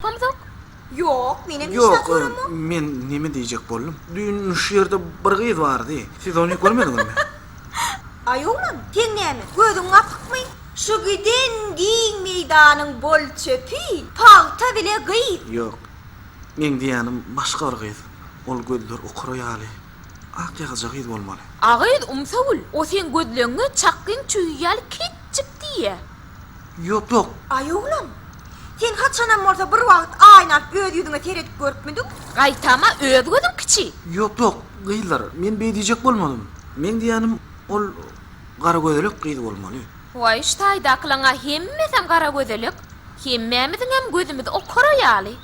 Hamzok, Ýok, menem hiç zat göremok. Ýok, men neme diýjek boldum. Düýn şu ýerde bir gyz bardy. Siz ony görmediňizmi? Aý oglan, seň näme, gözüň gapykmy? Şu giden giň meýdanyň bol-çöpi pagta bile gyz. Ýok. Meň diýýänim başga bir gyz. Ol gözler okara ýaly. Ak ýagaja gyz bolmaly. A gyz umsagül, o seň gözleňňe çakgyň çüýi ýaly kiçjik diýýä. Ýok-ýok. Aý oglan, sen haçanam bolsa bir wagt aýna alyp öz ýüzüňe seredip görüpmidiň? Gaýtam-a öz gözüň kiçi. Ýok-ýok, gyzlar, men beý diýjek bolmadym. Meň diýýänim, ol garagözelek gyz bolmaly. Waý, şu taýdakylaň-a hemmesem garagözelek. Hemmämiziňem gözümiz okara ýaly.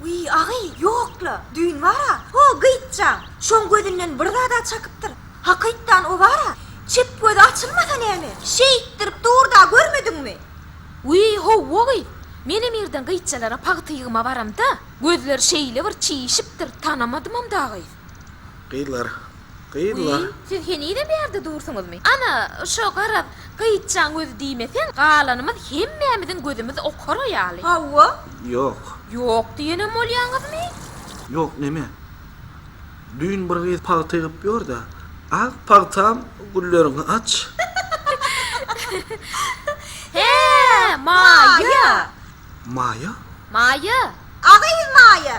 Wiý, agy, ýok-la, düýn bar-a, ho, gyýçjaň, şoň gözünden bir zad-a çakypdyr. Hakytdan o bar-a, çep gözi açylmasa näme, şeýtdirip dur-da, görmediňmi? Wiý, howwa-wiý, menem irden gyýçjalara pagta ýygyma baramda, gözleri şeýle bir çişipdir, tanamadymam-da gyz. Gyzlar. Gyzlar. Wiý, siz henizem ýerde dursuňyzmy? Ana, şo garaz, gyýçjaň gözi diýmeseň, galanymyz hemmämiziň gözümiz okara ýaly. Hawa. Ýok. Ýok diýenem bolýaňyzmy? Ýok näme? Düýn bir gyz pagta ýygyp ýör-de, Ak pagtam, gülleriňi aç! Hä, Maýa! Maýa? Maýa. A gyz Maýa!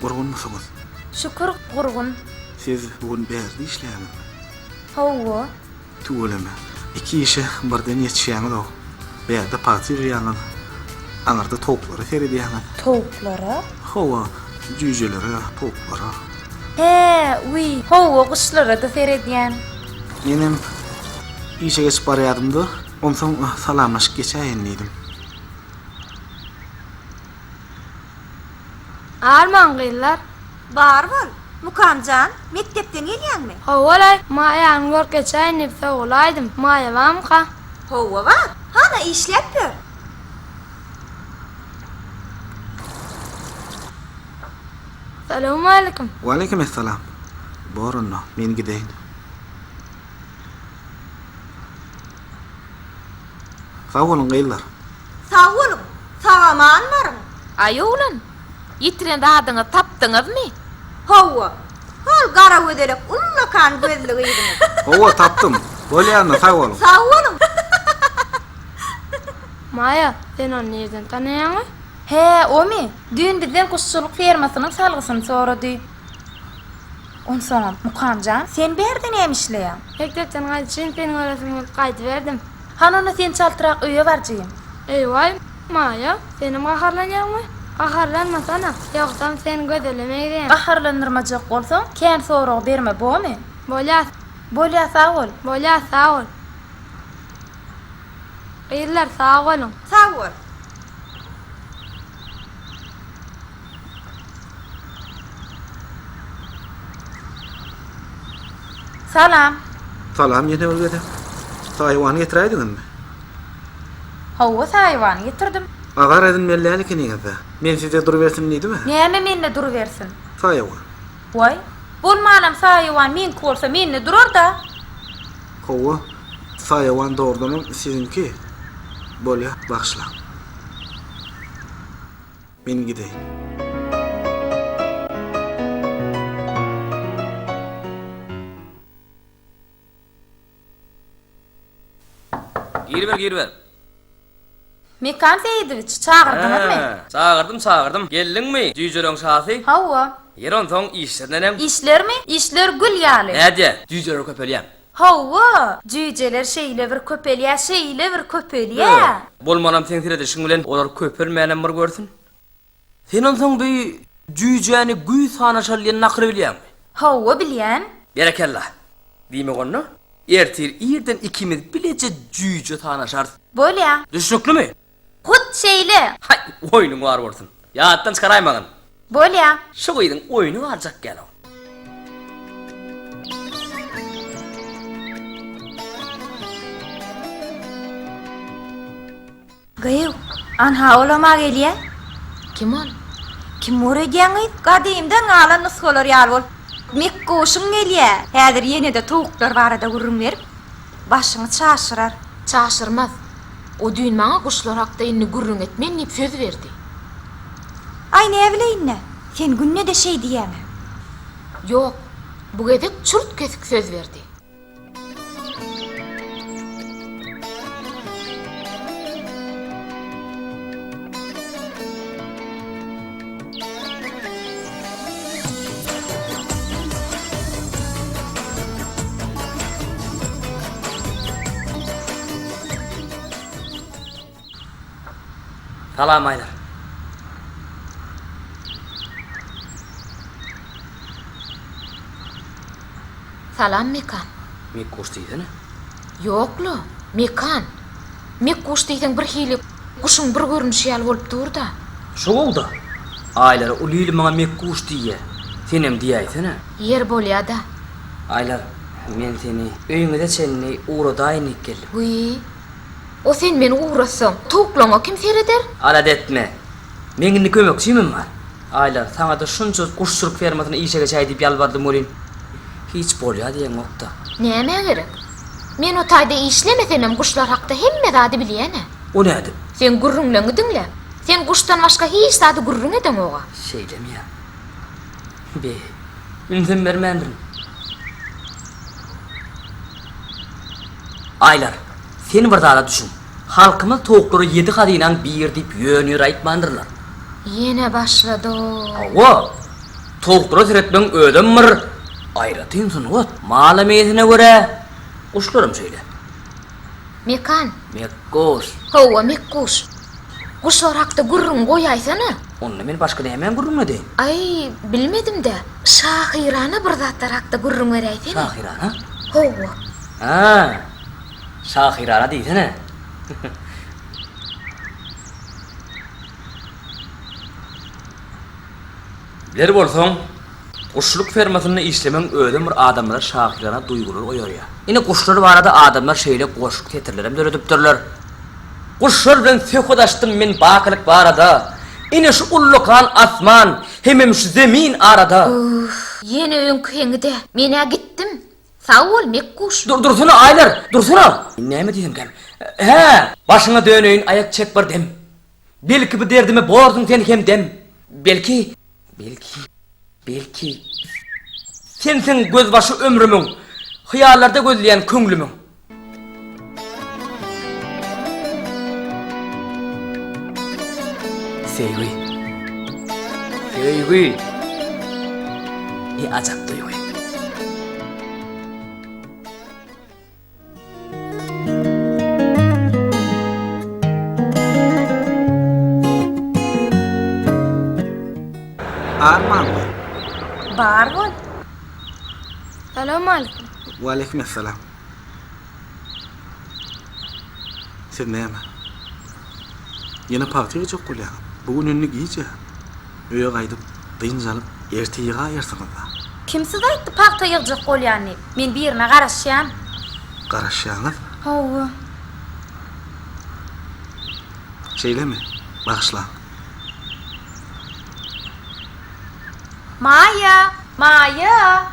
Gurgunmysyňyz? Şükür, gurgun. Siz bu gün bärde işleýäňizmi? Hawa. Tüweleme. Iki işe birden ýetişýäňiz-ow. Bärde pagta ýygýaňyz, aňyrda towuklara seredýäňiz. Towuklara? Hawa, jüýjelere, towuklara. Hä, wiý, hawa, guşlara-da seredýän. Menem işe geçip barýardym-da, onsoň salamlaşyp geçäýin diýdim. Arman gyzlar, bar bol! Mukam jan, mekdepden gelýäňmi? Hawa-laý, Maýanyň görüp geçäýin diýip sogalaýdym. Maýa barmyka? Hawa bar. Hana işläp ýör. Salowmaleýkim. Waleýkim essalam. Bor onda, men gideýin. Sag boluň gyzlar. Sag boluň, sagaman baryň. Aý oglan, ýitiren zadyňyzy tapdyňyzmy? Hawa, hol gara gözelek ullakan gözli gyzyňyz. Hawa, tapdym. Bolýanda, sag boluň. Sag boluň. Maýa, sen ony nireden tanaýaňa? Hä, omy? Düýn bizden guşçulyk fermasynyň salgysyny sorady. Onsoňam, Mukam jan, sen bärde näme işleýäň? Mekdepden gaýdyşyn seni göresim gelip gaýdyberdim. Hany onda sen çaltrak öýe barjyň. Eý-waý, Maýa, senem gaharlanýaňmy? Gaharlanmasana, ýogsam sen Gözele meňzeýäň. Gaharlandyrmajak bolsaň, kän sorag berme, bomy? Bolýar. Bolýar, sag bol. Bolýar, sag bol. Gyzlar, sag boluň. Sag bol. Salam. Salam ýene bir gezek. Saýwan getiräýdiňizmi? Hawa, saýwan getirdim. Agar edin mellän ikiniňizde. Men size durubersin diýdimä. Näme mende durubersin? Saýwan. Waý, bolmanam saýwan meňki bolsa mende durar-da. Hawa, saýwan dogrudanam siziňki. Bolýa, bagyşlaň. Men gideýin. Giriber, giriber. Mekan Seýidowiç, çagyrdyňyzmy? Hä, çagyrdym, çagyrdym. Geldiňmi, jüýjeleriň şasy? Hawa. Ýeri onsoň, işler neneň? Işlermi? Işler gül ýaly. Nädýä, jüýjeler köpelýär. Hawa, jüýjeler şeýle bir köpelýä, şeýle bir köpelýä. Bolmanam seň seredişiň bilen olar köpelmänäm bir görsün. Sen onsoň bu jüýjäni güýz sanaşaly diýen nakyly bilýäňmi? Hawa, bilýän. Berekella. Diýmek onda, ertir irden ikimiz bileje jüýje sanaşarys. Bolýa. Düşnüklimi? Hut şeýle! Haý, oýnuň bar bolsun. Ýatdan çykaraýmagyn. Bolýa. Şu gyzyň oýny barjak gel-ow. Gyýw, anha olam-a gelýä. Kim ol? Kim bor edýäň, gyz? Gadymdan galan nusgalar ýaly bolup, Mekguşuň gelýä. Häzir ýene-de towuklar barada gürrüň berip, Başyňy çaşyrar. Çaşyrmaz. O düýn maňa guşlar hakda indi gürrüň et men diýip söz berdi. Aý näbileýin-dä, sen günde-de şeý diýýäň-ä. Ýok, bu gezek çürt-kesik söz berdi. Salam Aýlar. Salam Mekan. Mekkuş diýsene. Ýok-la, Mekan. Mek guş diýseň birhili guşuň bir görnüşi ýaly bolup dur-da. Şow-da. Aýlara uly il maňa mek guş diýýä. Senem diýäýsene. Ýeri bolýa-da. Aýlar, men seni öýüňize çenli ugradaýyn diýip geldim. Wiý. O sen meni ugratsaň, towuklaňa kim sereder? Alat etme. Meň indi kömekçimem bar. Aýlar, saňa-da şunça guş-çurk fermasyny işe geçäý diýip ýalbardym welin, hiç bolýa diýeňokda. Nämä gerek? Men o taýda işlemesemem guşlar hakda hemme zady bilýän-ä. O nädip? Sen gürrüňleňi diňläp, sen guşdan başga hiç zady gürrüň edeňog-a. Şeýdemýä. Be, ünsem bermändirin. Aýlar, sen bir zada düşün. Halkymyz towuklara ýedi hazynaň biri diýip ýön-ýör aýtmandyrlar. Ýene başlady-ow. Hawa, towuklara seretmegiň özem bir aýratyn sungat. Mala meýesine görä, guşlaram şeýle. Mekan. Mekguş. Hawa, mekguş. Guşlar hakda gürrüň goýaýsana. Onda men başga nämäň gürrüňini edeýin? Aý, bilmedim-dä. Şahyrana bir zatlar hakda gürrüň beräýsene. Şahyrana? Hawa. Hä. Şahyrana diýsene. Biler bolsaň, guşçulyk fermasynda işlemegiň özem bir adamda şahyrana duýgular oýarýar. Ine guşlar barada adamlar şeýle goşgy setirlerem döredipdirler. Guşlar bilen söhbet açdym men bakylyk barada, Ine şu ullakan asman hemem şu zemin arada. Uff, ýene öňki heňi-dä. Men-ä gitdim. Sag bol Mekguş. Dur dursana Aýlar! Dursana! Men näme diýemkäm? Hä! Başyňa döneýin aýak çek bir dem. Belki bu derdime borsuň sen hem dem. Belki, belki, belki. Sensiň gözbaşy ömrümiň. Hyýallarda gözleýän köňlümiň. Söýgi. Söýgi. Ne ajap duýgy. Barmyň? Bar bol. Salowmalikim. Waleýkim essalam. Sen näme? Ýene pagta ýygjak bolýaňmy? Bu gün indi gijä. Öýe gaýdyp, dynç alyp, erte ýygaýarsyňyz-da. Kim size aýtdy pagta ýygjak bolýan diýip? Men birine garaşýan. Garaşýaňyz? Hawa. Şeýlemi? Bagyşlaň. Maýa! Maýa!